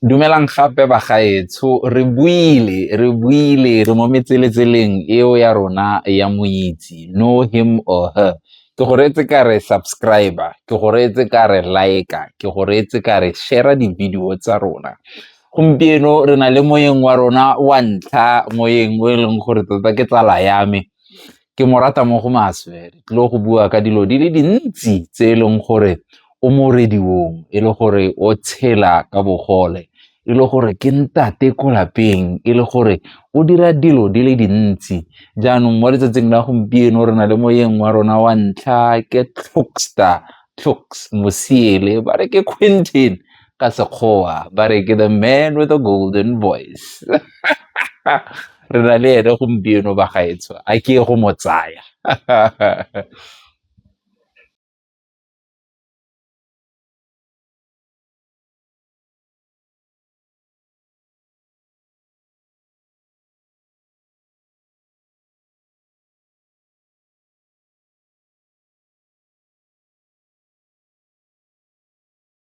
Dumelang gape bagaetsho re buile re buile re mo metseletseleng eo ya rona ya moitse know him or her ke go reetse ka re subscriber ke go reetse ka re like ke go reetse ka re share di-video tsa rona gompieno re na le moyeng wa rona wa ntlha moyeng o e leng gore tota ke tsala ya me Ke mo rata mo go maswe, re tlile go bua ka dilo di le dintsi tse e leng gore o mo rediong, e le gore o tshela ka bogole, e le gore ke ntate ko lapeng, e le gore o dira dilo di le dintsi. Jaanong mo letsatsing la gompieno re na le moyeng wa rona wa ntlha ke Tlhokstar Tlhoks Mosiele ba re ke Quentin ka sekgowa ba re ke the man with a golden voice re na le ene gompieno ba gaetsho a ke go mo tsaya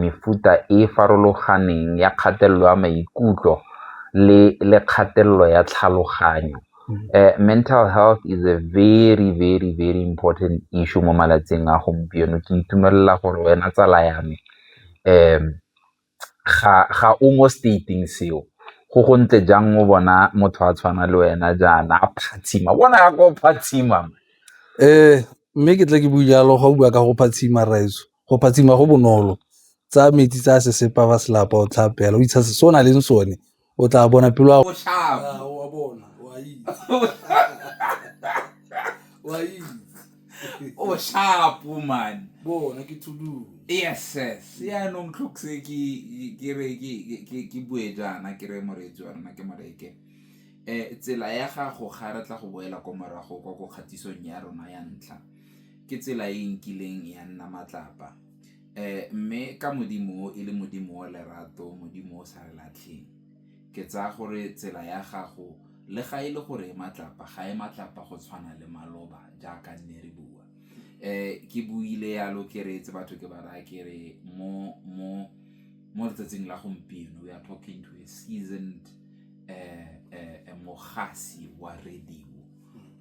mefuta e e farologaneng ya kgatelelo ya maikutlo le kgatelelo ya tlhaloganyo. Mental health is a very, very, very important issue mo malatsing a gompieno, ke itumelela gore wena tsala ya me. ga o mo state-ing seo, go go ntle jang o bona motho a tshwana le wena jaana a phatsima, bona jaaka o phatsima. Mme ke tle ke bue jalo ga o bua ka go phatsima rraetsho, go phatsima go bonolo, tsaya metsi tsaya sesepa wa se lapa o tlhape fela o itshase se o nang le sone o tla bona pelo ya o sharp man bona ke thudu yes yes ya no ntlhokse ke ke re ke ke bue jana ke re moreetsi wa rona ke moreke eh tsela ya gago ga re tla go boela ko morago kwa go kgatisong ya rona ya ntlha ke tsela e nkileng ya nna matlapa Mme ka Modimo o, e le Modimo wa lerato, Modimo o o sa re latlheng, ke tsaya gore tsela ya gago le ga e le gore e matlapa, ga e matlapa go tshwana le maloba jaaka nne re bua. Ke buile yalo ke reetse batho ke ba raya ke re mo letsatsing la gompieno we are talking to a seasoned mogasi wa radio.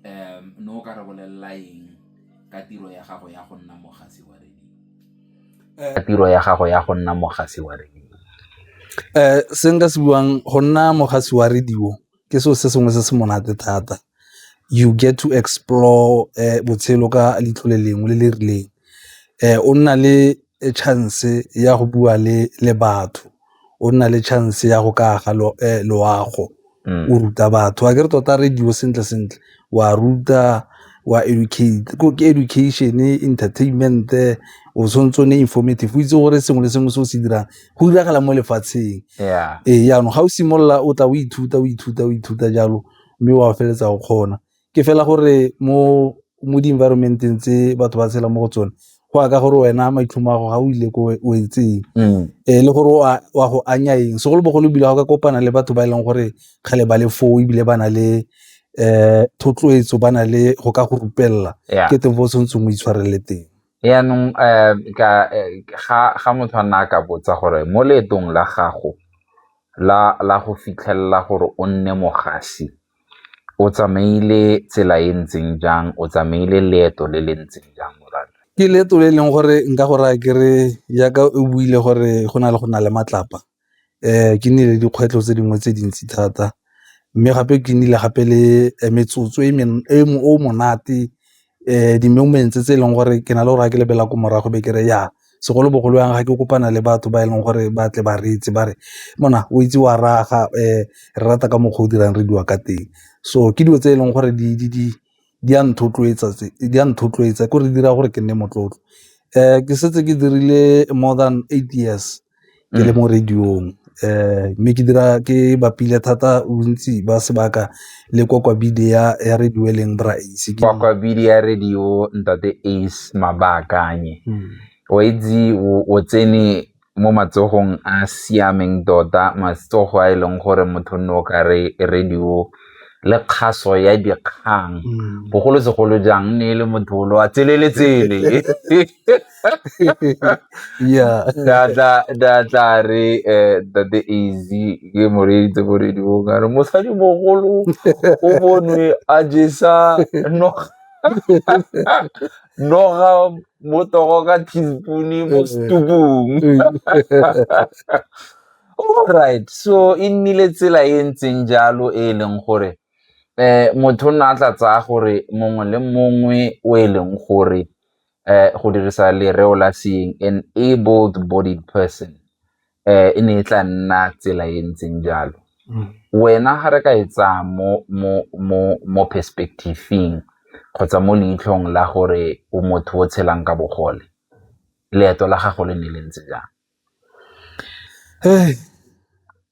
um ne o ka re bolelela eng ka tiro ya gago ya go nna mogasi wa radio? Ka tiro ya gago ya go nna mogasi wa radio? Um se nka se buang go nna mogasi wa radio ke seo se sengwe se se monate thata you get to explore um botshelo ka leitlho le lengwe le le rileng um o nna le chance ya go bua le batho o nna le chance ya go ka aga loago o ruta batho a ke re tota radio sentle sentle wa ruta wa educate ke education, entertainment-e o tshwanetse o nne informative o itse gore sengwe le sengwe se o se dirang go diragala mo lefatsheng. Ee jaanong ga o simolola o tla o ithuta o ithuta o ithuta jalo mme wa feleletsa o kgona. ke fela gore mo mo di-environment-eng tse batho ba tshela mo go tsone go ya ka gore wena maitlhomo a go ga o ile ko o etseng um le gore wa go anya eng segolobogolo ebile ga ka kopana le batho ba e leng gore kgale ba le foo ebile ba na le um thotloetso ba na le go ka go rupelela ke teng fo o tshwanetseng o itshwarelele teng yaanong um ga motho a nna a ka botsa gore mo leetong la gago la go fitlhelela gore o nne mogasi o tsamaile tsela e ntseng jang, o tsamaile leeto le le ntseng jang morwadia? Ke leeto le e leng gore nka go raya ke re jaaka o buile gore go na le go nna le matlapa ke nnile le dikgwetlho tse dingwe tse dintsi thata mme gape ke nnile gape le metsotso o monate di-moments tse e leng gore ke na le gore ga ke lebelela ko morago be kere ya segolobogolo yang ga ke kopana le batho ba e leng gore ba tle ba reetse ba re mona o itse wa raga re rata ka mokgwa o dirang re dula ka teng. So ke dilo tse e leng gore di a nthotloetsa ko re dira gore ke nne motlotlo ke setse ke dirile more than eight years. ke le mo radio-ng mme ke dira ke bapile thata bontsi ba sebaka le ya radio e leng Bra Ace. ya radio ntate Ace Mabakanye, o a itse o tsene mo matsogong a a siameng tota matsogo a e leng gore motho nne o ka re radio le kgaso ya dikgang bogolosegolo jang ne e le motho o le wa tseleletsele. yeah nda tla re eh, tate easy ke moreeditse moredi bong a re mosadi mogolo o bonwe a jesa noga noga mo togo ka teaspoone mo eh. stubong alright so e nnile tsela e ntseng jalo e e leng gore um motho o nna a tla tsaya gore mongwe le mongwe o e leng gore um go dirisa lereo la seeng an able-bodied person um e ne e tla nna tsela e ntseng jalo. Mm. Wena ga re ka e tsaya mo perspective-ing kgotsa mo leitlhong la gore o motho o tshelang ka bogole, leeto la gago le ne le ntse jang?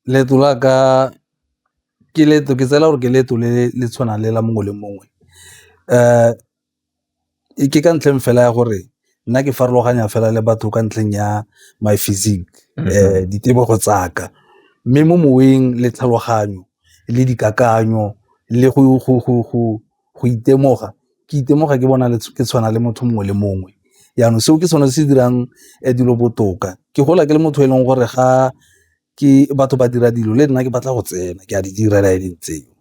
leeto la ka ke leeto ke tsela gore ke leeto le le tshwanang le la mongwe le mongwe um Ke ka ntlheng fela ya gore nna ke farologanya fela le batho ka ntlheng ya my physique, ditebogo tsa ka. Mme mo moweng le tlhaloganyo le dikakanyo le go itemoga ke itemoga ke bona ke tshwana le motho mongwe le mongwe, jaanong seo ke sone se dirang dilo botoka ke gola ke le motho e leng gore ga ke batho ba dira dilo le nna ke batla go tsena ke a di dira le ene ntse jalo,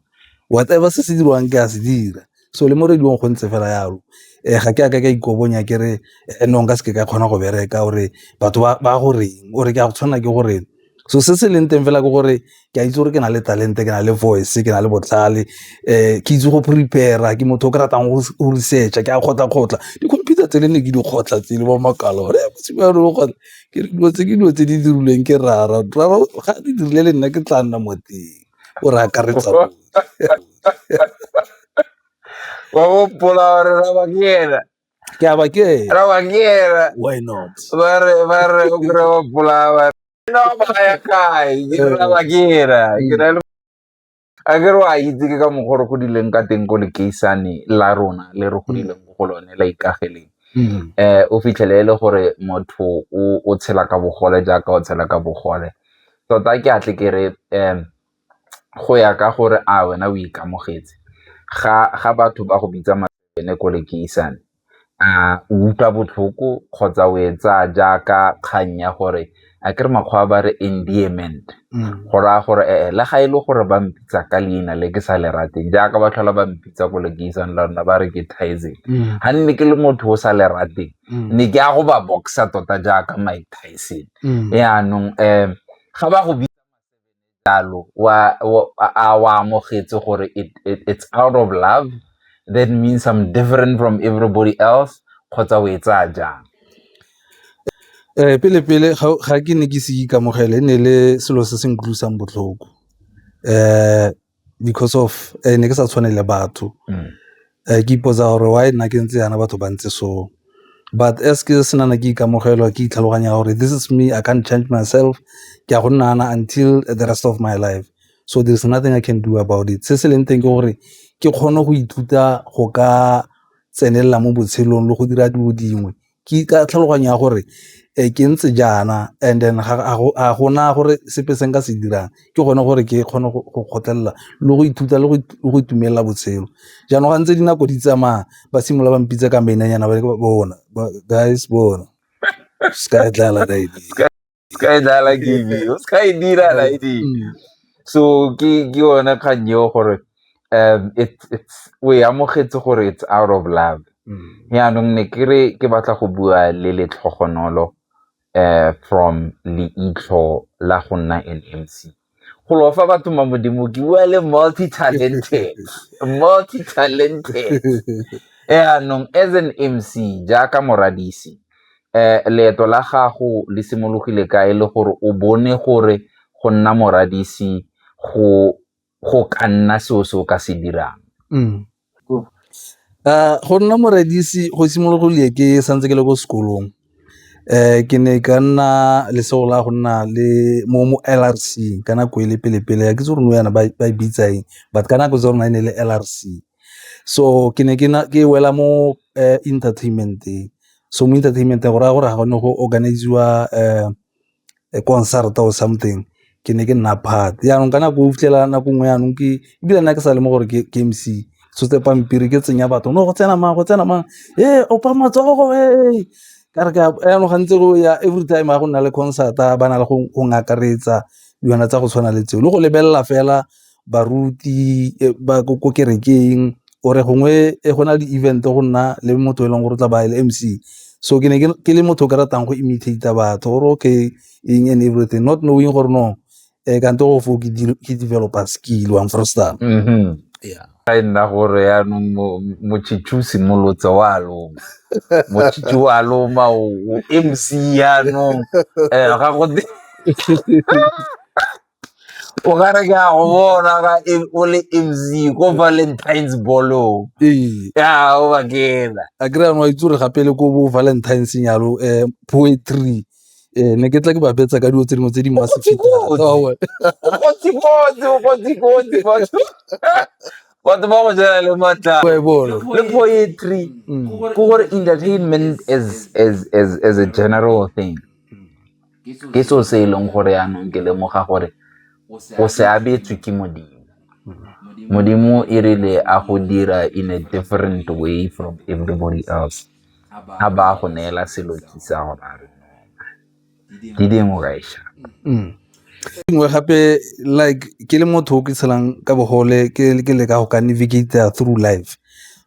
whatever se se dirwang ke a se dira so le mo radio-ng go ntse fela jalo ga ke a ka ka ikobonya ke re no nka se ke ka kgona go bereka or-e batho ba go reng or-e ke a go tshwanela ke gore so se se leng teng fela ke gore ke a itse gore ke na le talente, ke na le voice, ke na le botlhale ke itse go prepare-a ke motho o ke ratang go research-a ke a kgotlha-kgotlha di-computer tsele ne ke di kgotlha tsele bo makala . ke re dilo tse ke dilo tse di dirilweng ke rara rara ga di dirile le nna ke tla nna mo teng o re akaretsa wa gopola gore raba ke ena ke aba ke raba ke ena why not ba re ba re o kry gopola ba no ba ya kae ke raba ke ena ke na le a ke re a itse ke ka mokgwa re godileng ka teng ko lekeisane la rona le re godileng ko go lone la ikageleng um o fitlhele e le gore motho o tshela ka bogole jaaka o tshela ka bogole tota ke atle ke re um go ya ka gore a wena o ikamogetse ga batho ba go bitsa maene ko lekeisane a o utlwa botlhoko kgotsa o e tsaya jaaka kgang ya gore a ke re makgowa ba re endearment go raya gore e-e le ga e le gore ba mpitsa ka leina le ke sa le rateng jaaka ba tlhola ba mpitsa ko lekeisang la rona ba re ke Tyson ga nne ke le motho o sa le rateng ne ke ya go ba boxer tota jaaka Mike Tyson yaanong ga ba go jalo a o amogetse gore it's out of love that means I'm different from everybody else kgotsa o e tsaya jang um pele pele ga ke ne ke se ikamogele e ne le selo se se nkutlwisang botlhoko um because of eh, ne ke sa tshwane le batho mm. Ke ipotsa gore why nna ke ntse yana batho ba ntse so, but as ke se nana ke ikamogela ke itlhaloganya gore this is me I can't change myself ke a go nna yana until the rest of my life, so there is nothing I can do about it. Se se leng teng ke gore ke kgone go ithuta go ka tsenelela mo botshelong le go dira dilo dingwe ke ka tlhaloganya ya gore ke ntse jaana and then ga gona gore sepe se nka se dirang, ke gone gore ke kgone go kgotlhelela le go ithuta le go itumelela botshelo. Jaanong ga ntse dinako di tsamaya ba simolola ba mpitsa ka mainanyana ba re bona guys bona . skydala game eo sky dira light mm. so ke ke yona kgang eo gore um it's it's o e amogetse gore it's out of love mm. yaanong ne ke re ke batla go bua le letlhogonolo um from leitlho la go nna an mc go lofa batho ma modimo ke bua le multi talented multi talented eanong as an mc jaaka moradisi um leeto la gago le simologile ka e le gore o bone gore go nna moradisi go go ka nna seo se o ka se dirang mm. Go nna moredisi go simologile ke santse ke le ko sekolong ke ne ka nna lesego la go nna le mo L_R_C ka nako e le pele-pele ga ke itse gore nou jaana ba e bitsa eng but ka nako tsa rona e ne e le L_R_C. So ke ne ke wela mo entertainment-eng, so mo entertainment-eng go raya gore ga go ne go organise-iwa . concert-a or something ke ne ke nna part jaanong ka nako o fitlhela nako nngwe jaanong ke ebile nna ke sa le mo gore ke M_C tshotse pampiri ke tsenya batho no go tsena mang go tsena mang e opa matsogo e ka re jaanong ga ntse go ya every time ga go nna le concert-a ba na le go akaretsa dilwana tsa go tshwana le tseo le go lebelela fela baruti ba ko kerekeng or gongwe go na le event go nna le motho e leng gore o tla ba le M_C so ke ne ke le motho o ke ratang go imitate-a batho or okay eng and everything not knowing gore no kante go foo ke developer skill one for star. Ga e nna gore yaanong motšhitšhi o simolotse o a loma motšhitšhi o a loma o M_C yaanong ga go o ka re ke a go bona ka e- o le mc ko valentines ballong ee ya o bakela a kry anwa itse gore gape le ko bo valentines nyalo um poetry um ne ke tla ke ba betsa ka dilo tse dingwe tse di masefeta Kotsi-kotsi. Aowa. kotsi-kotsi o kotsi-kotsi batho batho ba go jela le matlaa Wa e bona. le poetry Mm. ke gore entertainment as, as, as, as a general thing Ke seo se e leng gore yanong ke lemoga gore o se abetswe ke Modimo. Modimo e rile a go dira in a different way from everybody else, a ba a go neela selo sa go ba re di dingwe ka e sha. Mm. dingwe gape like ke le motho o ke tshelang ka bogole ke le ka go ka navigate through life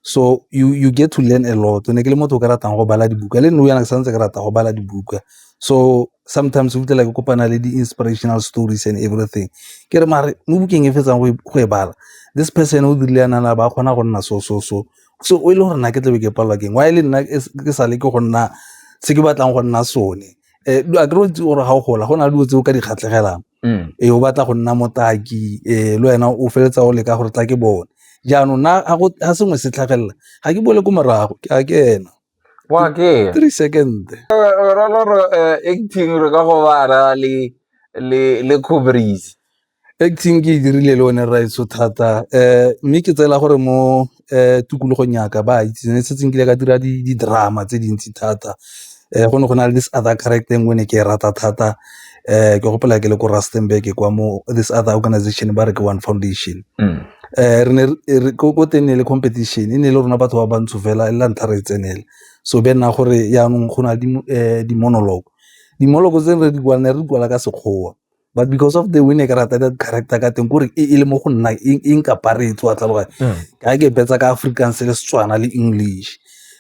so you you get to learn a lot ne ke le motho o ka ratang go bala dibuka le nna yana ke santse ke rata go bala dibuka so sometimes o fitlhela ke kopana le di-inspirational stories and everything ke re mare mo bukeng e fetsang go e bala this person o dirile yana na ba kgona go nna so so so so o e le gore nna ke tlabe ke palelwa keng wa e le nna ke sa le ke go nna se ke batlang go nna sone um a kry itse gore ga o gola go na le dilo tse o ka di kgatlhegelang mm. e o batla go nna motaki um le wena o feletsa o leka gore tla ke bone jaanong na ga sengwe se tlhagelela ga ke bole ko morago ke a ke ena wa ke three second roloro eh, acting re ka go bara le le le cobris acting ke e dirile le one raiso thata um mme ke tsela gore mo um tikologong yaka ba itse ne setse nkile ka dira di-drama tse dintsi thata um go ne go na le this other character e nngwe ne ke e rata thata ke gopola ke le ko Rustenburg kwa mo this other organization ba re ke one foundation re ne ko teng ne le competition e ne e le rona batho ba bantsho fela e la ntlha re e tsenela so be nna gore jaanong go na le di-monologue, di-monologue tse re di kwala ne re di kwala ka Sekgowa but because of the way ne ke rata ka character ka teng kore e le mo go nna e nkapare e tswa tlhaloganya ka ke betsa ka Afrikaans le Setswana le English.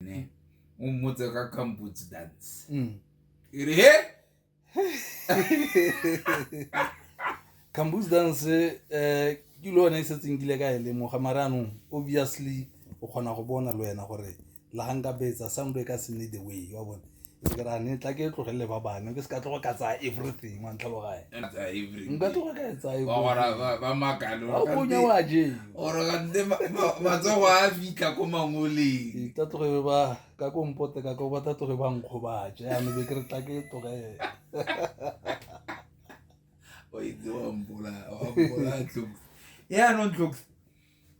ne o mmotse ka kamputse dance mm. e re he campus dance um ke le one e setseng kile ka e lemoga mara anong obviously o kgona go bona le wena gore la ga nka betsa sound e ka se ne the way wa bone ke ra ne tla ke tlogelele ba bane ke se ka tlogo ka tsaya everything wa ntlhalogae nka tlogo ka e tsayaonya wa jematsogo a fitlha ko mangoleng ta tloge ba ka ko mpote ka ko ba ta tloge ba nkgo ba je ame be ke re tla ke tlogele yaanong tlokse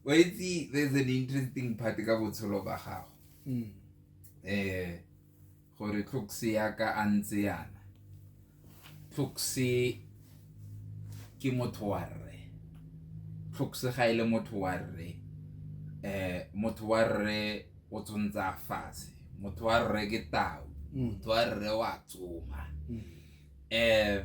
wa itse there's an interesting part ka botshelo ba gago um gore tlhokse yaka a ntse yana tlhokse ke motho wa rre tlhokse ga e le motho wa rre um motho wa rre o tshwanetse a fatshe motho wa rre ke tau mm. motho wa rre wa tsoma um mm. eh,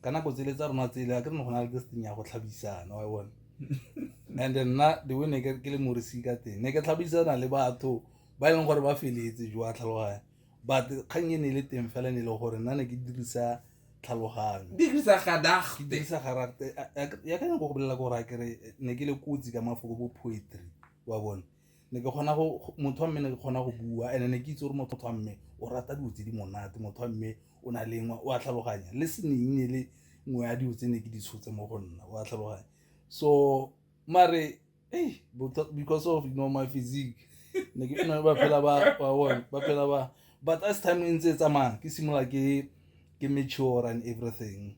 ka nako tsele tsa rona tsele a ke re ne go na le this thing ya go tlhabisana wa bone and nna the way ne ke le morisi ka teng ne ke tlhabisana le batho ba e leng gore ba feletse jo a tlhaloganya but kgang e ne e le teng fela ne e le gore nna ne ke dirisa tlhaloganyo dirisa gadagte ke dirisa garagte ya ka nyako go bolela gore a kere ne ke le kotsi ka mafoko bo poetry wa bone ne ke kgona go motho wa mme ne ke kgona go bua and-e ne ke itse gore motho wa mme o rata dilo tse di monate, motho wa mme o na le engwe o a tlhaloganya le e le nngwe ya dilo tse ne ke di tshotse mo go nna o a tlhaloganya. So mare because of you know my physique ne ke nna ba phela ba bone ba phela ba but as time e ntse e tsamaya ke simolola ke ke mature and everything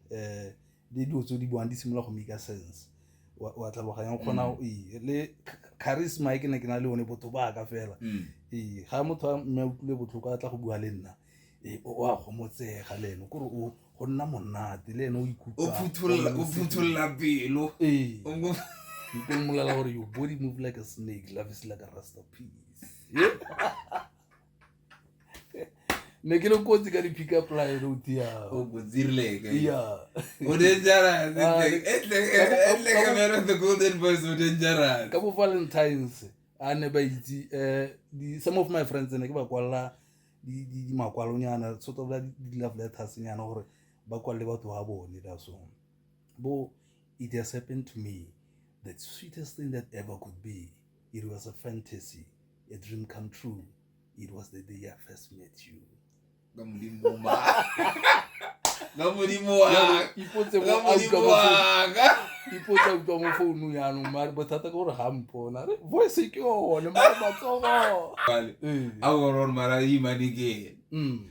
le dilo tse di buang di simolola go make sense wa tlhaloganya kgona mm. ee le charisma e ke ne ke na le one botho ba ka fela mm. ee ga motho a mme utlwile botlhoko a tla go bua le nna ee o a gomotsega le ene kore o go nna monate le ene o ikutlwaophutholela pelo ee nko mmolela gore your body move like a snake love is like a rasta piece ne ke le kotsi ka di-pick up line road yago bo valentines a ne ba itse um some of my friends ne ke ba kwalela dimakwalonyana sort of di-love letters nyana gore ba kwalele batho ba bone ka so bo it has happened to me the sweetest thing that ever could be It was a fantasy, a dream come true. It was the day I first met you. ipotsa utlwa mo founu yanong mare bothata ke gore ga mpona re voice ke one mare matsogo aorone mara imanekeng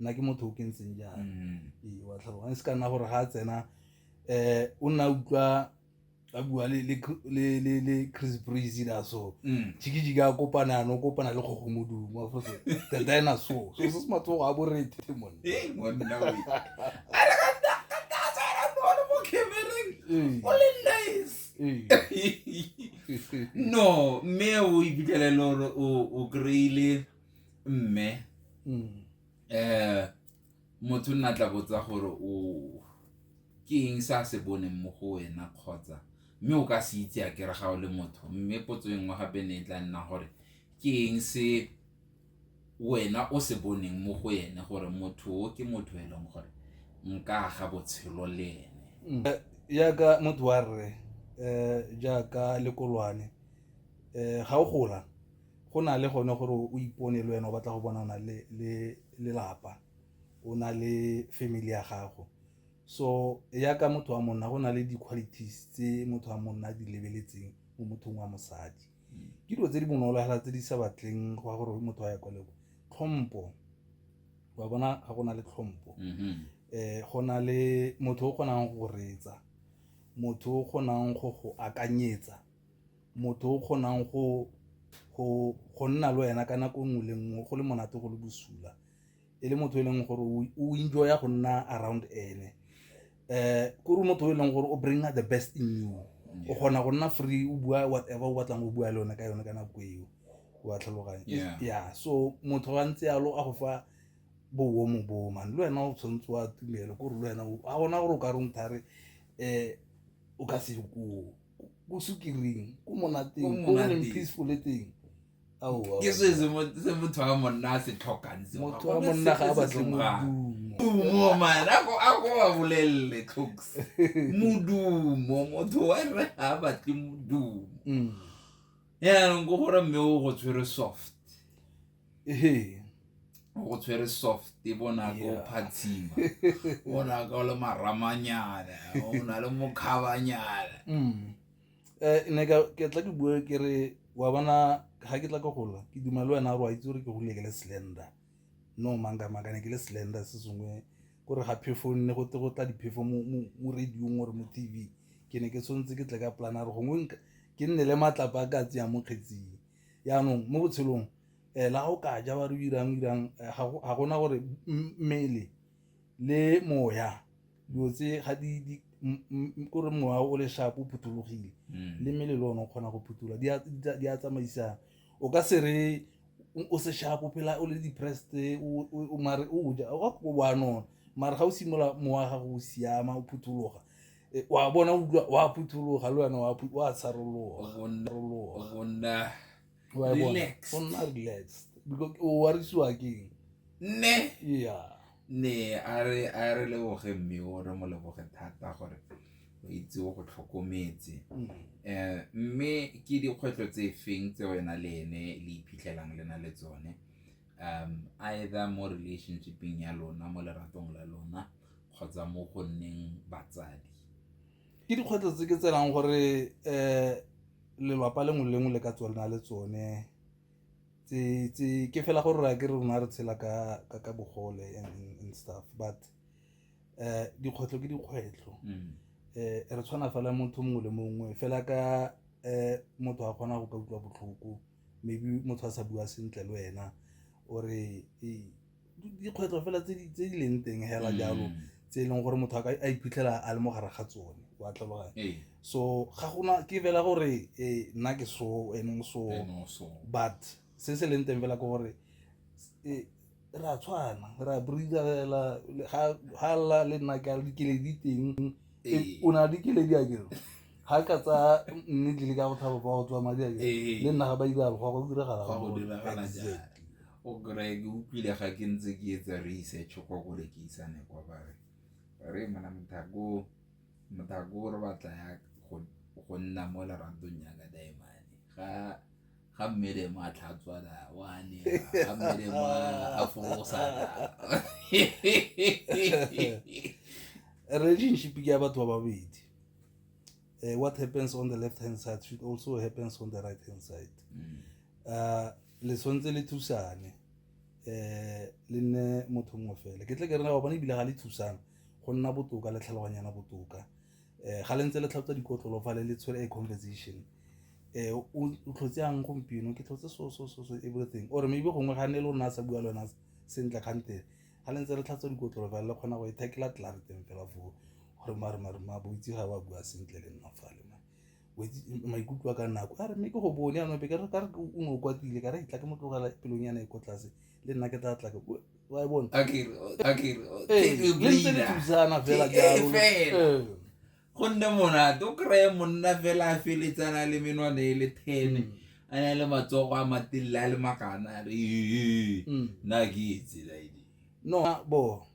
nna ke motho o ke ntseng jang mm-hmm. wa tlhaloganya se ka nna gore ga a tsena um o nna utlwa a bua le chris breeze la so mm. jikijiki a kopana ano kopana le kgogomodumo afose the dinosaur so se se matsogo a borethe mone no mme o ibitlhelele gore o kry-ile mme um motho nna tla botsa gore o ke eng se a se boneng mo go wena kgotsa mme o ka se itse a kere ga o le motho mme potso e nngwe gape ne e tla nna gore ke eng se wena o se boneng mo go ene gore motho o ke motho e leng gore nka ga botshelo le ene mm. eh, jaaka motho wa rre um jaaka lekolwane um ga o gola Go na le gone gore o ipone le wena o batla go bona o na le le lelapa o na le family ya gago so ya ka motho wa monna go na le di-qualities tse motho wa monna a di lebeletseng mo mothong wa mosadi ke dilo tse di bonolo fela tse di sa batleng go ya gore motho wa ya kwa leko tlhompho wa bona ga go na le tlhompho mm-hmm. eh go na le motho o kgonang go reetsa motho o kgonang go go akanyetsa motho o kgonang go nna le wena ka nako nngwe le nngwe go le monate go le bosula e le motho e leng gore o enjoya go nna around ene um kore motho e leng gore o bring the best in you o kgona go nna free o bua whatever o batlang go bua le one ka yone ka nako eo wa tlhaloganya ya so motho wa ntse yalo a go fa bowo mo boo mane le wena o tshwanetse wa tumelo kore le wena a gona gore o ka rongthare um o ka se koo ko sukiring ko monateng ko leng peaceful le teng ke se se motho wa monna a se tlhokang motho wa monna ga a batle modumo mana ko a ko wa bolelele tlhoks modumo motho wa rre ga a batle modumo mm. yaanong ko gore mme o go tshwere soft o go tshwere soft e bonaka o phatshima bonaka o le maramanyana o na le mokhabanyana um ne ke tla ke bue ke re wa bona ga ke tla ke gola ke duma le wena gore wa itse gore ke gole ke le slender no manga manga ne ke le slender se sengwe kore ga phefo nne go te go tla diphefo mo radiong gore mo t v ke ne ke tshwanetse ke tle ka polana re gongwe ke nne le matlapa a ka tseya mo kgetsing yaanong mo botshelong um eh, la go ka ja ba re irang irang eh, ga gona gore mmele le moya dilo tse ga di kore moya o le shapo o phuthologile mm. le mmele le one o kgona go phutula di a tsamaisa o ka se re o se shapo phela o le depressed o mare o ja o go wa nona mare ga o simolola mowa ga go siama o phuthologa e, wa bona utlwa wa phuthologa le wena wa wa tsharologa gonna relax gonna relax because o warisiwa ke ne yeah Nne a re a re leboge mme o re mo leboge thata gore o itse o go tlhokometse um mme ke dikgwetlho tse feng tse wena le ene le iphitlhelang le na le tsone um either mo relationshipeng ya lona mo leratong la lona kgotsa mo go nneng batsadi ke dikgwetlho tse ke tsenang gore um lelwapa lengwe le lengwe le ka tsona le tsone ke fela gore ke rona re tshela ka bogole and stuff but um dikgwetlho ke dikgwetlho um re tshwana fela motho mongwe le mongwe fela ka um motho a kgona go ka utlwa botlhoko maybe motho a sa bua sentle le wena ore dikgwetlho fela tse di leng teng hela jalo mm. tse e leng gore motho a iphitlhela a le mo gare ga tsone wa tlhaloganya ee. so ga gona ke fela gore e, nna ke so ene so but se se leng teng fela ke gore e, re a tshwana re a breather fela ga lla le nna ke a le dikeledi teng ee. o na le dikeledi a kere ga ka tsa mme tlile ka go thaba ba go tswa madi a kere le nna ga ba diralo go go diragala O kry-e ke utlwile ga ke ntse ke etsa research kwa ko re ke isane kwa bare re mona mothako re batla ya go nna mo lerantong ya ka daemane ga ga mmele mo a tlhatswana wa ne ga mmele mo a fosana relationship ke ya batho ba babedi uh, what happens on the left hand side should also happens on the right hand side mm. uh, le tshwanetse le thusane um le nne motho mongwe fela ke tle ke rena ba bone ebile ga le thusang go nna botoka le tlhaloganyana botoka um ga le ntse le tlhatswa dikotlolo fa le le tshwere a conversation um o tlhotse yang gompieno ke tlhotse so so so so everything or maybe gongwe ga ne le o nna a sa bua le wena sentle kgante ga le ntse re tlhatswa dikotlolo fela le kgona go e thekela tlelare teng fela foo gore maremarema boitse ga ba bua sentle le nna fale maikutlo a ka nako a re mme ke go bone yanong be ka re o ne o kwatile ka re itla ke mo tlogela pelong yana e ko tlase le nna ke tla tla ke wa e bona le ntse le thusana fela jalo go nne monate o kry-e monna fela a feletsana le menwana e le ten mm. a na le matsogo a matelele a le makana a re mm. na ke etsela edi no bo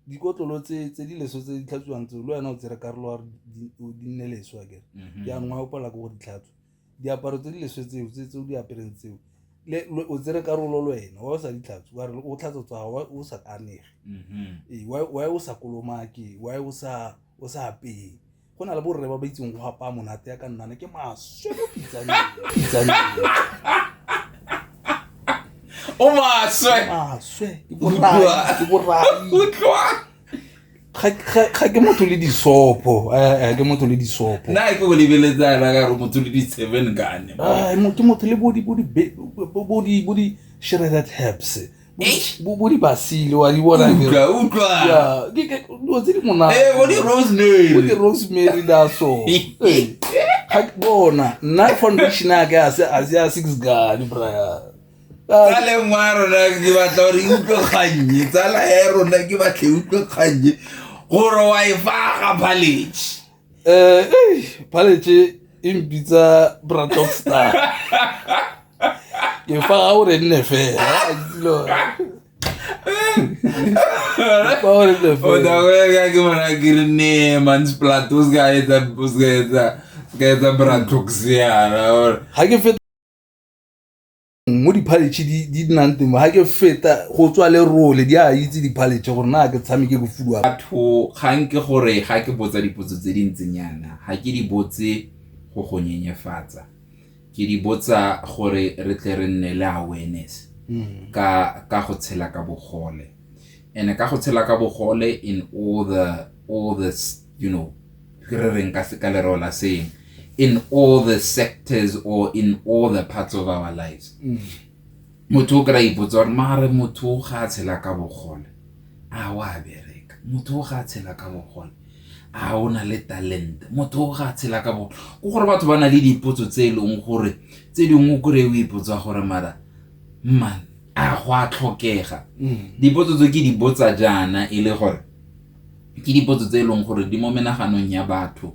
dikotlolo tse tse di leso tse di tlhatswang tse le wena o tsere karolo wa di nne leso a kere mm-hmm. jaanong a opala ko go ditlhatswa diaparo tse di leswe tseo tse o di apereng tseo le o tsere karolo le wena wa o sa ditlhatso wa re o tlhatso tswa wa o sa kanege mm-hmm. ee wa o sa kolomake wa o sa o sa apeye go na le borre ba ba itseng go gapa monate ya ka nnana ke maswe mo pitsaneng o maswe maswe ke borai ke borai ga ke motho le disopo eh, eh, ke motho le disopo na ke o lebeletsana ka gore motho le di-seven gane ah, ke motho le bo di-shredded herbs bo di basile wa di bona dilo tse di monatedirosemary daso ga ke bona nna foundation ake a se a six gane braya tsaleng wa rona ke batla gore e utlwe kgannye tsala ya rona ke batla e utlwe kgannye gore wa e faga palage um eh, palage e mpitsa bradok star ke faga gore nne fela odakoyaka ke mona ke re ne mansplat o seka etsa o seka etsa seka etsa bratoxiana ga ke mo diphaletšhe di nnang teng ga ke feta go tswa le role di a itse diphaletšhe gore na ke tshameke go fuduwa batho kgang ke gore ga ke botsa dipotso tse di ntseng yana ga ke di botse go go nyenyefatsa ke di botsa gore re tle re nne le awareness hmm. ka ka go tshela ka bogole and ka go tshela ka bogole in all the all the you know re reng ka ka lereo la saying in all the sectors or in all the parts of our lives mm. motho o kry-a ipotsa gore maare motho o ga a tshela ka bogole a o a bereka motho o ga a tshela ka bogole a o na le talente motho o ga a tshela ka bogole ko gore batho ba na le dipotso tse e leng gore tse dingwe o kry-e o ipotsa gore mara man a go a tlhokega mm. dipotso tse ke di botsa jaana e le gore ke dipotso tse e leng gore di mo menaganong ya batho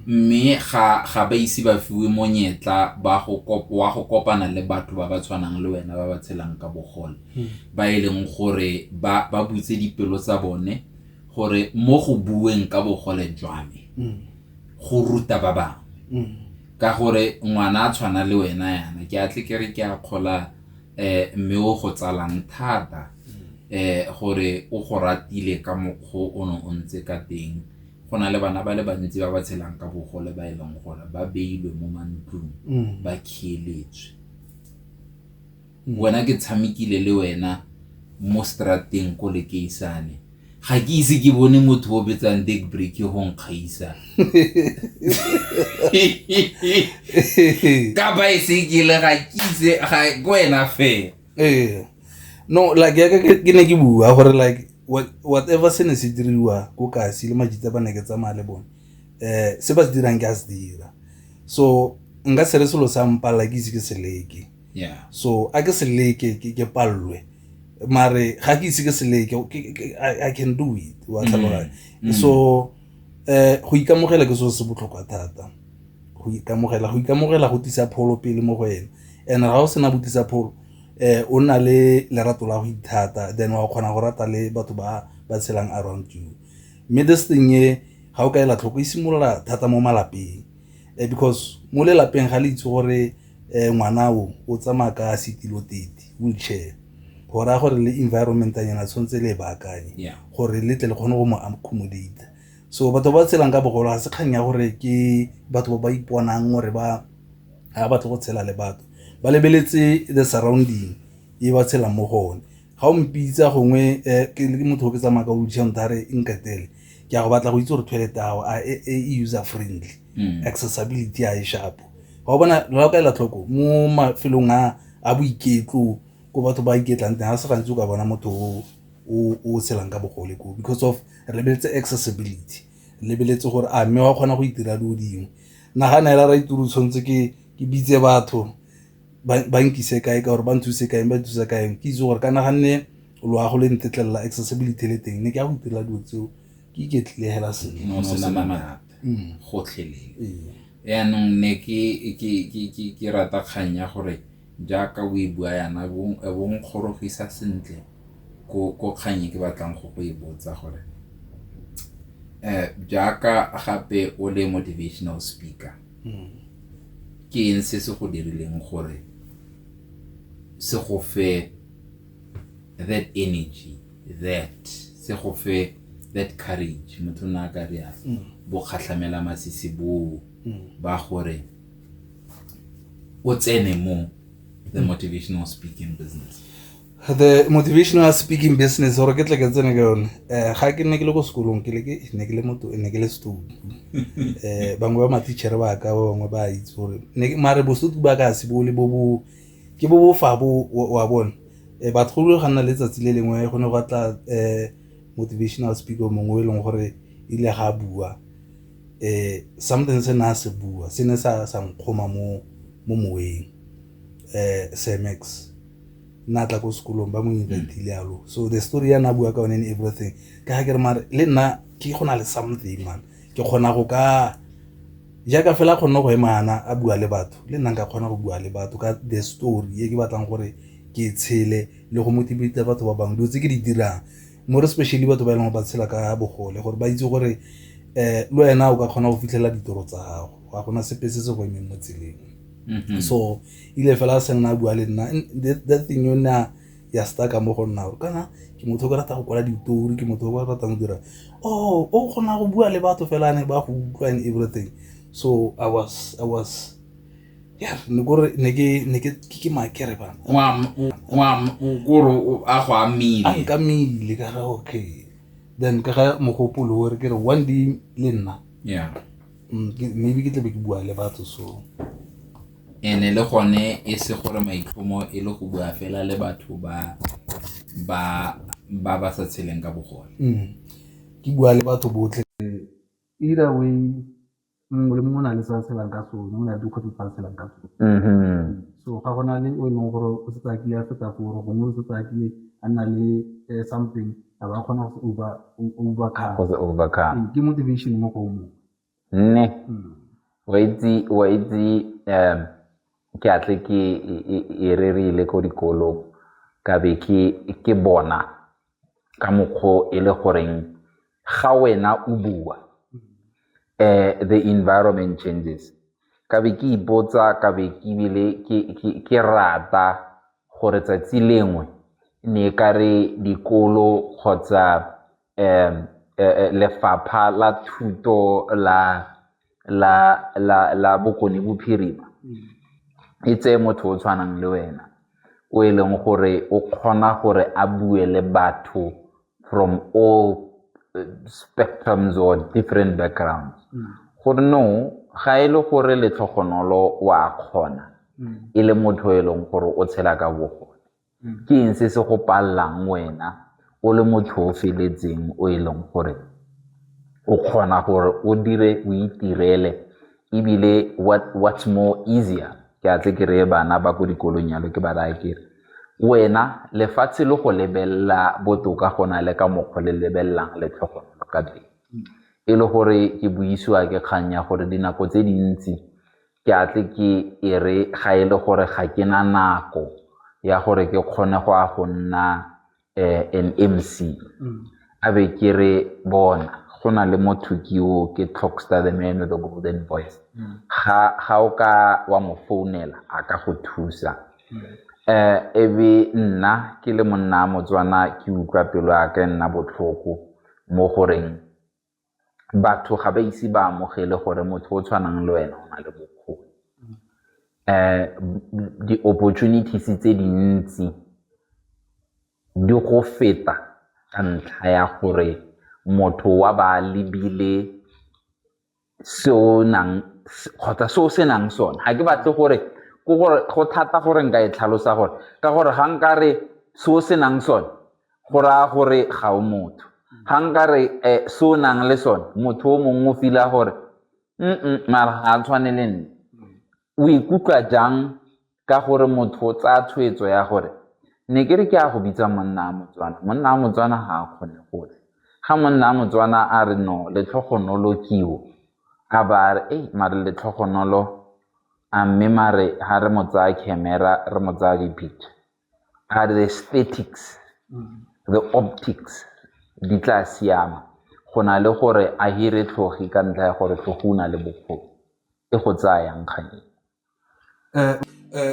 mme ga ga ba ise ba fiwe monyetla ba go kop- wa go kopana le batho ba ba tshwanang le wena ba ba tshelang ka bogole ba e leng gore ba ba butse dipelo tsa bone gore mo go bueng ka bogole jwa me go ruta ba bangwe ka gore ngwana a tshwana le wena yana ke a tle ke re ke a kgola um mme o go tsalang thata um gore o go ratile ka mokgwa o ne o ntse ka teng go na le bana ba le bantsi ba ba tshelang ka bogole ba e leng gore ba beilwe mo mantlong mm. ba khieletswe mm. wena ke tshamekile le wena mo strateng ko lekeisane ga ke ise ke bone motho o betsang deck break go nkgaisa ka baesekele ga ke ise ko wena fela Ee, no like ya ka ke ne ke bua gore like whatever se ne se diriwa ko kasi le majitse ba ne ke tsamaya le bone um se ba se dirang ke a se dira so nka se re selo sa mpalla ke ise ke se leke so a ke se leke ke palelwe mare ga ke ise ke se leke i can do it wa tlhaloganya mm. so Um go ikamogela ke selo se se botlhokwa thata, go ikamogela. Go ikamogela go tlisa pholo pele mo go ene and-e ga o sena go tlisa pholo o nna le lerato la go ithata then wa kgona go rata le batho ba ba tshelang around you. Mme this thing e ga o ka ela tlhoko e simolola thata mo malapeng. eh, because mo lelapeng ga le itse gore eh, ngwana o o tsamaya ka setilo tete wheelchair go raya gore le environment anyana tshwanetse le e baakanye gore le tle le kgone go mo accommodate so batho ba tshelang ka bogolo ga se kgang ya gore ke batho ba ba iponang gore ba ga batle go tshela le batho ba lebeletse the surrounding e ba tshelang mo go one ga o mpitsa gongwe um ke motho o ke tsamaya ka wheelchair motho a re nketele ke ya go batla go itse gore toilet ao a e, e, e user friendly mm. accessibility a e shapo ga o bona la o ka ela tlhoko mo mafelong a a boiketlo ko batho ba iketlang teng ga se gantsi o ka bona motho o tshelang ka bogole ko because of re lebeletse accessibility re lebeletse gore a mme wa kgona go itira dilo dingwe nagana ela ra ituru tshwanetse ke bitse batho ba nkise kae ka gore ba nthuse kae ba nthusa kae ke itse gore ka naganne loago le ntetlelela accessibility le teng ne ke ya go itirela dilo tseo ke iketlile hela segotlhelele yaanong ne ke rata kgang ya gore jaaka o e bua yana bong kgorogisa sentle ko kgang e ke batlang go go e botsa gore um jaaka gape o le motivational speaker ke eng se se go dirileng gore se go fe that energy that se go fe that courage motho na ka re a mm. bo kgatlhamela masisi bo mm. ba gore o tsene mo the mm. motivational speaking business the motivational speaking business gore ke tle ke tsene ka yone um ga ke nne ke le ko sekolong ke ne ke le moto ne ke le setudu um eh, bangwe ba matichere ba ka ba bangwe ba itse gore mare bosutu ba ka se bole bo bo ke bo bofa bo wa bone um eh, batgolo ga nna letsatsi le lengwe go ne go tla um motivational speaker mongwe e leng gore e ile ga bua um something se ne a se bua se ne sa nkgoma mo moweng um semex nna tla ko sekolong ba mo inventile yalo so the story ya na bua ka one and everything ka ga ke re mare le nna ke go na le something man ke kgona go ka jaaka fela kgonne go emana a bua le batho le nna nka kgona go bua le batho ka the story e ke batlang gore ke tshele le go motivate batho ba bangwe dilo tse ke di dirang more especially batho ba e leng ba tshela ka bogole gore ba itse gore um le wena o ka kgona go fitlhelela ditoro tsa gago ga gona sepe se se go emeng mo tseleng mm-hmm. so ile fela a se nna a bua le nna that thing o ne a ya staka mo go nna kana ke motho o ke rata go kwala ditori ke motho o ke ratang go dira oh o kgona go bua le batho fela ne ba go utlwa and everything so i was i was yeah ne gore ne ke ne ke ke makere bana ngwa ngwa gore a go amile a ka mile ka okay then ka ga mogopolo gore ke re one day le nna yeah mm, maybe ke tlabe ke bua le batho so And-e le gone e se gore maitlhomo e le go bua fela le batho ba ba ba ba sa tsheleng ka bogole. Ke bua le batho botlhe either way mongwe le mongwe o na le se a tshelang ka sone, o na le dikgwetlho tse a tshelang ka tsone. So ga go na le o e leng gore o setse a kile a feta foo, or gongwe o setse a kile a nna le something a ba kgona go se overcome. Ke motivation mo go o mongwe. Mme wa itse ke a tle ke e rerile ko dikolong ka be ke bona ka mokgwa o e le goreng ga wena o bua the environment changes ka be ke ipotsa ka be ke ebile ke rata gore 'tsatsi lengwe ne e kare dikolo kgotsa lefapha la thuto la Bokone Bophirima e tseye motho o tshwanang le wena o e leng gore o kgona gore a bue le batho from all spectrums or different backgrounds ga e le gore letlhogonolo o a kgona e le motho e leng gore o tshela ka bogole. Ke eng se se go palelang wena o le motho o feletseng o e leng gore o kgona gore o dire o itirele ebile what's more easier ke a tle ke reye bana ba ko dikolong yalo ke ba raya kere wena lefatshe le go lebelela botoka go na le ka mokgwa le lebelelang le tlhokomelo ka teng. E le gore ke buisiwa ke kgang ya gore dinako tse dintsi ke a tle ke e re ga e le gore ga ke na nako ya gore ke kgone go ya go nna an M_C a be ke re bona go na le motho ke o ke Talkster the man with the golden voice ga o ka wa mo founela a ka go thusa. E be nna ke le monna wa Motswana ke utlwa pelo ya ka e nna botlhoko mo goreng batho ga ba ise ba amogele gore motho o tshwanang le wena o na le bokgoni. Di-opportunities tse dintsi di go feta ka ntlha ya gore motho wa ba a lebile se o nang kgotsa se o se nang sone. Ga ke batle gore go thata gore nka e tlhalosa gore ka gore ga nkare se o se nang sone go raya gore ga o motho ga nka re eh, se o nang le sone motho o mongwe o fila gore mm mara ga a tshwane le nne o ikutlwa jang ka gore motho o tsaya tshwetso ya gore ne ke re ke a go bitsa monna a motswana monna a motswana ga a kgone gotlhe ga monna a motswana a re no letlhogonolo kiwo a ba a re ei mare letlhogonolo a mme mare ga re mo tsaya camera re mo tsaya dipicture a the aesthetics, the optics di tla siama go na le gore a hire tlhogi ka ntlha ya gore tlhogi o na le bokgoni e go tsaya yang kgang eo.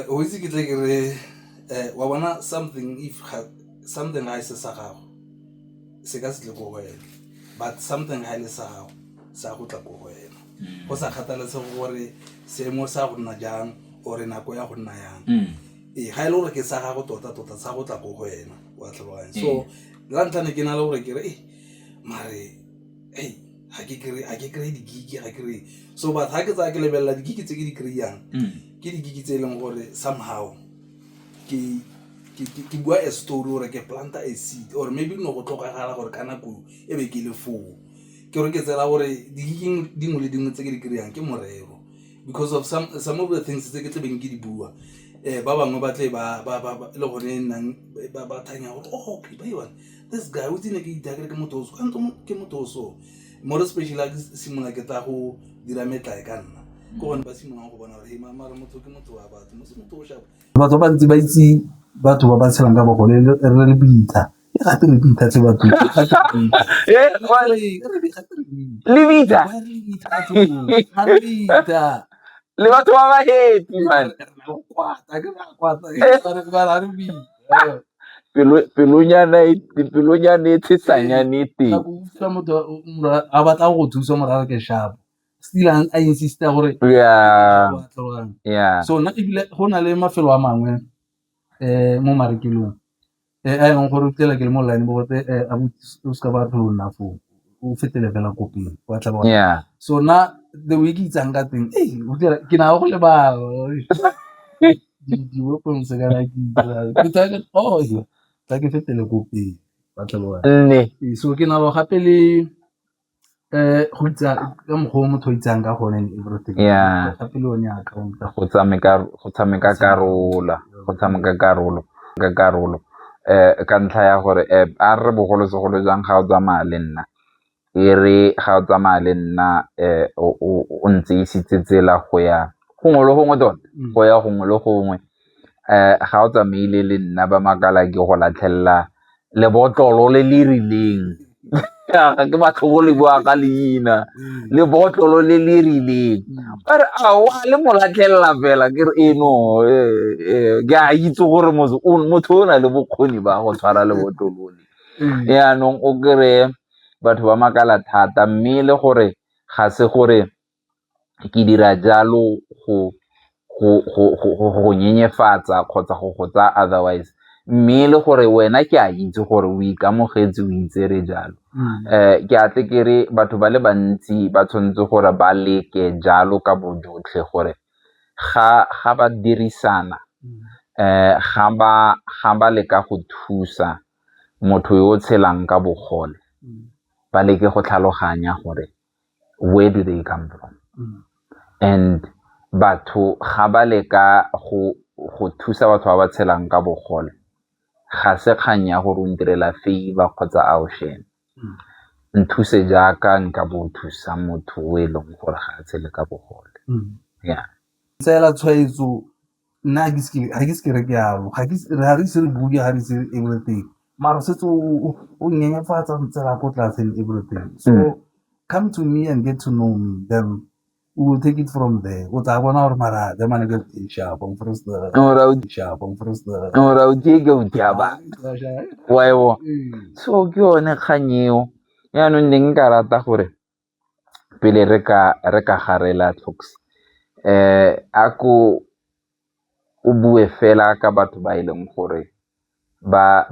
O itse ke tle ke re wa bona something if something ga e se sa gago se ka se tle ko go wena but something ga e le sa gago se ya go tla ko go wena go sa kgathalesege gore seemo sa go nna jang or nako ya go nna yang Ee, ga e le gore ke sa gago tota-tota sa go tla ko go wena wa tlhaloganya so ee. la ntlha ne ke na le gore ke re e mare ei ga ke kry-e di-gig ga kry so but ga ke tsaya ke lebelela di-gig tse ke di kry-ang mm. ke di-gig tse e leng gore somehow ke bua a story gore ke planta a seed or maybe no go tlhokagala gore ka nako e be ke le foo ke gore ke tsela gore di-gigeng dingwe le dingwe tse ke di kry-ang ke morero because of some some of the things tse ke tlabeng ke di bua um ba bangwe ba tle e le gone e nnang ba thanya gore oh, okay ba one this guy o tsene ke itakere ke motho o so kanto ke motho o so more especially a ke simolola ke tla go dira metlae ka nna ke gone ba simololang go bona gore he mara motho ke motho wa batho motho o shapa batho ba ntse ba itse batho ba ba tshelang ka bogole re le bitla le batho ba ba happy man pelonyana e tshesanyane e teng a batla go thusa morara ke shapo stilang a insista gore so nna ebile go na le mafelo a mangwe um mo marekelong a e leng gore o fitlhela ke le mo line bo gote o seka ba tlhole o nna foo o fetele fela ko pele wa tlhaba so na the way ke itsang ka teng ke na go lebala di-weapons kana ke tsa ke oh tla ke fetele ko pele wa tlhaba so ke na gape le. go itsa ka mokgwa o motho a itsang ka gone go tshameka karolo, go tshameka karolo ka karolo ka ntlha ya gore a re bogolosegolo jang ga o tsamaya le nna, e re ga o tsamaya le nna o ntse isitse tsela go ya gongwe le gongwe tota, go ya gongwe le gongwe. ga o tsamaile le nna ba makala ke go latlhelela lebotlolo le le rileng, ga ke batle go le bua ka leina, lebotlolo le le rileng ba re aowa le mo latlhelela fela ke re ee no ke a itse gore motho o na le bokgoni ba go tshwara lebotlolo le. Jaanong o kry-e batho ba makala thata mme le gore ga se gore ke dira jalo go go nyenyefatsa kgotsa go go tsaya otherwise mme e le gore wena ke a itse gore o ikamogetse o itsere jalo ke a tle kere batho ba le bantsi ba tshwanetse gore ba leke jalo ka bojotlhe gore ga ba dirisana ga ba leka go thusa motho yo o tshelang ka bogole ba leke go tlhaloganya gore where do they come from mm. and batho ga ba le ka go go thusa batho ba ba tshelang ka bogole ga se kgang ya gore o ntirela favor kgotsa a o shene mm. nthuse jaaka nka bo thusa motho o e leng gore ga a tshele ka bogole mm. ya tsela tshwaetso Nna ga ke se ke, ga ke se ke re ke jalo, ga re ise re bue, ga re ise everything mara o setse o nyenyefatsa o ntsela ko tlase and everything. So come to me and get to know me then we will take it from there, o tla bona gore mara the man get sharp . So ke yone kgang eo, yanong ne nka rata gore. pele re ka garela Clicks a ko o bue fela ka batho ba e leng gore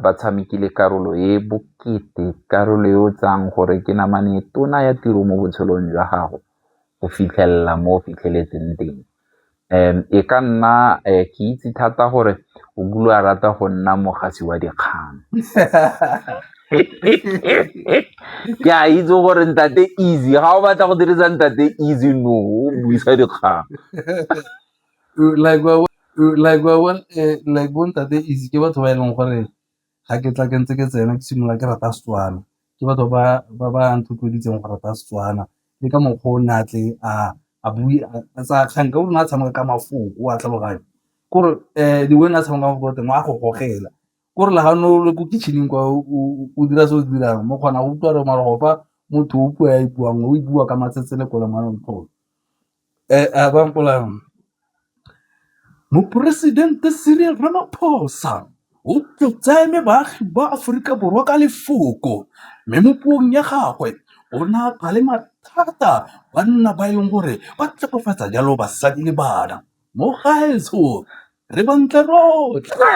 ba tshamekile karolo e bokete, karolo e o tsayang gore ke namane e tona ya tiro mo botshelong jwa gago go fitlhelela mo o fitlheletseng teng. um e ka nna um ke itse thata gore o kile a rata go nna mogasi wa dikgang ke a itse gore ntate easy ga o batla go dirisa ntate easy no o buisa dikgang like bo ntate easy ke batho ba e leng gore ga ke tla ke ntse ke tsena ke simolola ke rata Setswana. Ke batho ba ba ba nthotloeditseng go rata Setswana le ka mokgwa o ne a tle a bue a tsaya kgang ka gonne a tshameka ka mafoko o a tlhaloganya. Ke gore the way ne a tshameka ka mafoko ka teng wa go gogela, ke gore le ga ne o le ko kitchen-eng kwa o dira se o se dirang mo kgona go utlwa gore mara go fa motho o puo a e buang o e bua ka matsetseleko le manontlhotlho. Moporesidente Cyril Ramaphosa o tseile baagi ba Aforika Borwa ka lefoko mme mo puong ya gagwe o ne a ba le mathata banna ba e leng gore ba tlhegofatsa jalo basadi le bana mo gaetsho Re bontle rotlhe.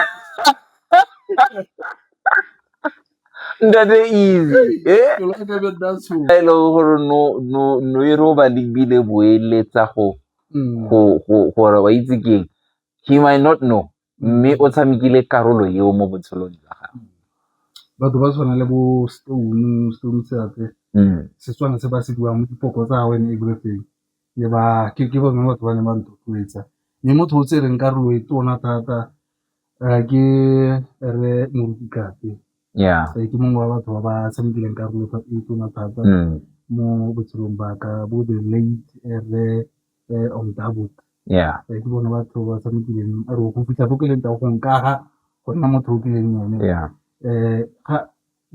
Ntate easy. Eh? Ke lwa ka be nna tshoga. e leng gore no no no e re o ba lebile boeletsa go Mm. go go gore wa itse keng he might not know mme o tshamekile karolo eo mo botshelong jwa gago batho ba tshwana le bo stone stone seatse Mm. setswana se ba se buang mo dipoko tsa gagwe and everything le ba ke bone batho ba ne ba nthotloetsa. Mme motho o tsereng karolo e tona thata ke Rre Moruti Tlhapi, ke mongwe wa batho ba ba tshamekileng karolo e tona thata mo botshelong ba ka bo the late Rre Om Dabo. Ke bone batho ba tshamekileng or go fitlha ko ke leng teng go nkaga go nna motho o kileng ene.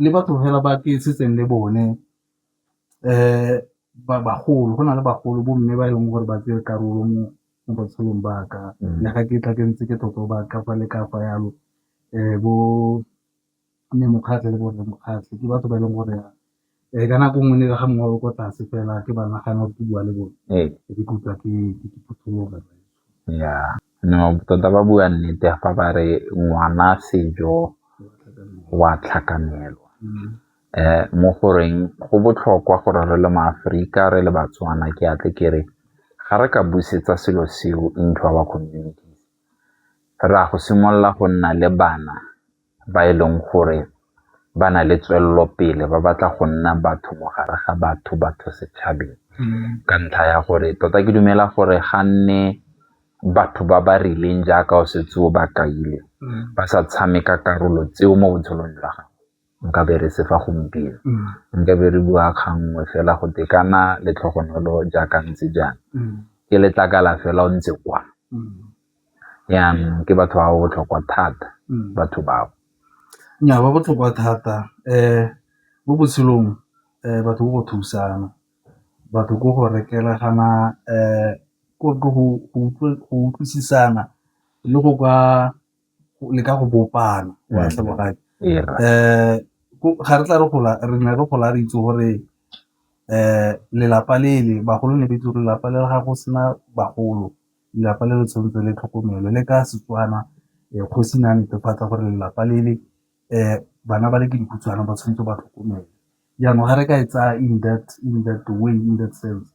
le batho fela ba ke setseng le bone bagolo, go na le bagolo bo mme ba e leng gore ba tsere karolo mo botshelong ba ka le ga ke tla ke ntse ke totoba ka fa le ka fa jalo bo mme Mokgatlhe le bo rre Mokgatlhe ke batho ba e leng gore ka nako nngwe le ga mongwe o le ko tlase fela ke ba nagana ke bua le bone ke ikutlwa ke phuthuloga . Tota ba bua nnete fa ba re ngwana sejo wa tlhakanelo mo goreng go botlhokwa gore re le maAforika re le baTswana ke a tle ke re ga re ka busetsa selo seo into our communities re a go simolola go nna le bana. ba e leng gore ba na le tswelelopele ba batla go nna batho mo gare ga batho batho setšhabeng ka ntlha ya gore tota ke dumela gore ga nne batho ba ba rileng jaaka o setse o ba kaile ba sa tshameka karolo tseo mo botshelong jwa gago nka be re se fa gompieno nka be re bua kganngwe fela go tekana letlhogonolo jaaka ntse jang ke letlakala fela o ntse kwa Jaanong ke batho ba ba botlhokwa thata batho bao. Nnyaa ba botlhokwa thata mo botshelong batho ke go thusana, batho ke go rekelana go utlwisisana le go ka leka go bopana wa tlhaloga ga re tla re gola re ne re gola re itse gore lelapa le le bagolo ne ba itse gore lelapa le ga go sena bagolo. lelapa le le tshwanetse le tlhokomelo le ka Setswana kgosi ne a netefatsa gore lelapa le le bana ba le ke dikhutshwane ba tshwanetse ba tlhokomele. Jaanong ga re ka e tsaya in that way, in that sense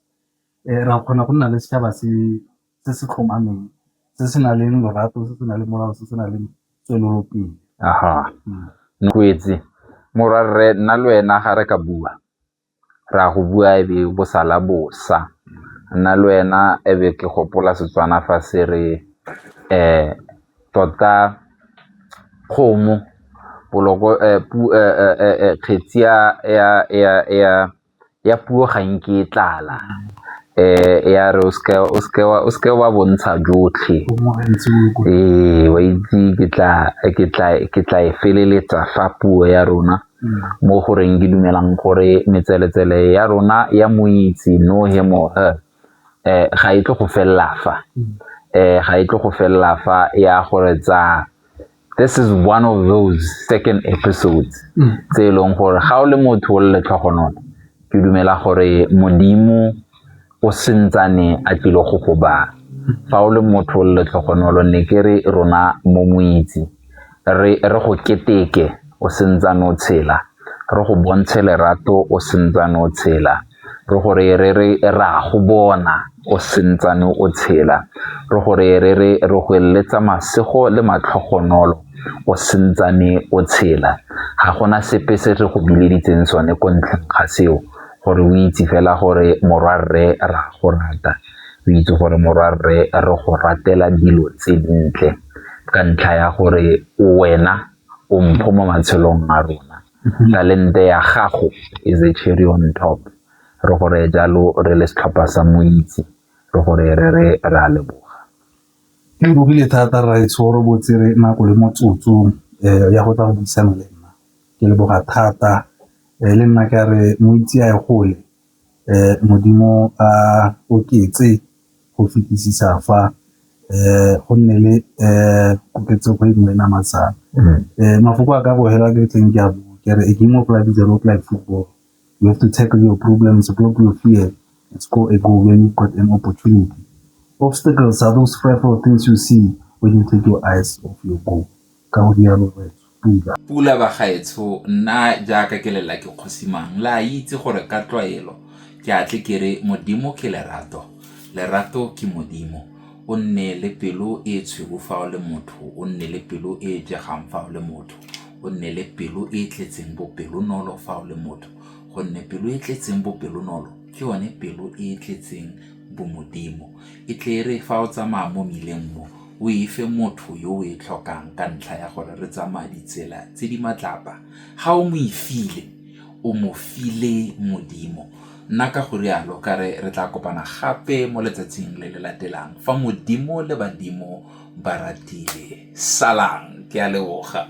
re a kgona go nna le setšhaba se se tlhomameng se se nang le lorato, se se nang le molao, se se nang le tswelelopele. Morwarre nna le wena ga re ka bua. Re a go bua e be bo sala bosa. Nna le wena e be ke gopola Setswana fa se re tota kgomo kgetsi ya puo ga nke e tlala ya re o seke wa bontsha jotlhe ee wa itse ke tla e feleletsa fa puo ya rona. mo go reng ke dumelang gore metseletsele ya rona ya moitse no he mo he eh ga e tlo go fella fa eh ga e tlo go fella fa ya gore tsa this is one of those second episodes mm. tse e leng gore ga o le motho o le letlhogonolo ke dumela gore modimo o sentsane a tlile go go ba fa o le motho le letlhogonolo ne ke re rona mo moitse re re go keteke o sentsane o tshela re go bontshe lerato o sentsane o tshela re gore re re ra go bona o sentsane o tshela re gore re re re go eletsa masego le matlhogonolo o sentsane o tshela ga gona sepe se re go bileditseng sone ko ntlheng ga seo gore o itse fela gore morwa rre ra go rata o itse gore morwa rre re go ratela dilo tse dintle ka ntlha ya gore wena o mpho mo matshelong a rona mhm. talente ya gago is a cherry on top re gore jalo re le setlhopha sa moitse re gore re re ra leboga ke bogile thata ra e tshoro botse re nako le motsotso um ya go tla go buisana le nna ke leboga thata le nna ka re moitse a e gole modimo a oketse go fetisisa fa um go nne le um koketsego e nngwe namatsana um mafoko a ka bogela ke tleng ke a bo ke re a game of life is a lot like football you have to tackle your problems block your fear and score a goal when you've got an opportunity obstacles are those frightful things you see when you take your eyes off your goal ka go rialo Rre Pula. Pula, Bagaetsho, nna jaaka ke lela ke kgosi mang, le a itse gore ka tlwaelo ke a tle ke re Modimo ke lerato, lerato ke Modimo. O nne le pelo e e tshweu fa o le motho, o nne le pelo e e jegang fa o le motho, o nne le pelo e e tletseng bopelonolo fa o le motho, gonne pelo e e tletseng bopelonolo ke yone pelo e e tletseng Bomodimo. E tle e re fa o tsamaya mo mmileng mo, o e fe motho yo o e tlhokang ka ntlha ya gore re tsamaya ditsela tse di matlapa. Ga o mo e file, o mo file Modimo. Nna ka go rialo ka re re tla kopana gape mo letsatsing le le latelang fa Modimo le badimo ba ratile. Salang! Ke a leboga.